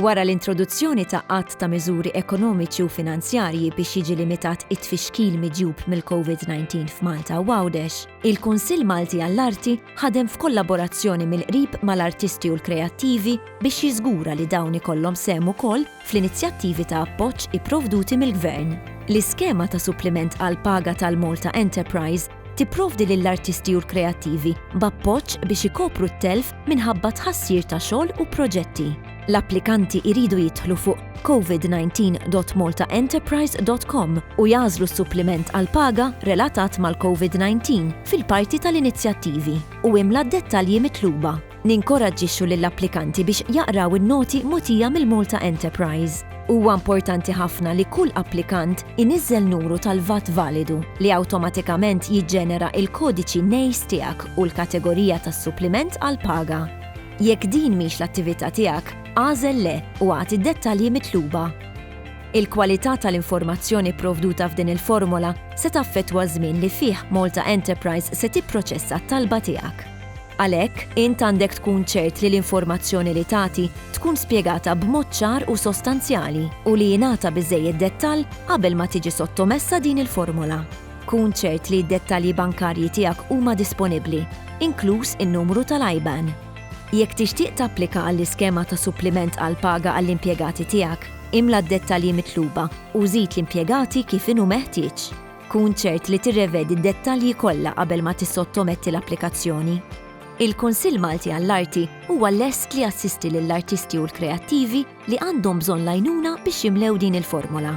Wara l-introduzzjoni ta' qatt ta' miżuri ekonomiċi u finanzjarji biex jiġi limitat it-tfixkil miġjub mill-COVID-19 f'Malta u Għawdex, il-Kunsill Malti għall-Arti ħadem f'kollaborazzjoni mill-qrib mal-artisti u l-kreattivi biex jiżgura li dawn ikollhom sehem ukoll fl-inizjattivi ta' appoġġ ipprovduti mill-Gvern. L-iskema ta' suppliment għall-paga tal-Malta Enterprise tipprovdi lill-artisti u l-kreattivi b'appoġġ biex ikopru t-telf minħabba t-tħassir ta' xogħol u proġetti. L-applikanti jridu jidħlu fuq covid19.maltaenterprise.com u jagħżlu s-suppliment għall-paga relatat mal-COVID-19 fil-parti tal-inizjattivi u imla d-dettalji mitluba. Ninkoraġġixxu lill-applikanti biex jaqraw in-noti mogħtija mill-Malta Enterprise. Huwa importanti ħafna li kull applikant iniżżel nuru tal-VAT validu, li awtomatikament jiġġenera il-kodiċi NACE tiegħek u l-kategorija tas-suppliment għall-paga. Jekk din mhix l-attività tiegħek, agħżel Le u agħti d-dettalji mitluba. Il-kwalità tal-informazzjoni pprovduta f'din il-formola se taffettwa ż-żmien li fih Malta Enterprise se tipproċessa t-talba tiegħek. Għalhekk, int għandek tkun ċert li l-informazzjoni li tagħti tkun spjegata b'mod ċar u sostanzjali u li jingħata biżżejjed dettall qabel ma tiġi sottomessa din il-formola. Kun ċert li d-dettalji bankarji tiegħek huma disponibbli, inkluż in-numru tal-IBAN. Jekk tixtieq tapplika għall-iskema ta' suppliment għall-paga għall-impjegati tiegħek, imla d-dettalji mitluba u żid l-impjegati kif inhu meħtieġ. Kun ċert li tirrevedi d-dettalji kollha qabel ma tissottometti l-applikazzjoni. Il-Kunsill Malti għall-Arti huwa lest li jassisti lill-artisti u l-kreattivi li għandhom bżonn l-għajnuna biex jimlew din il-formola.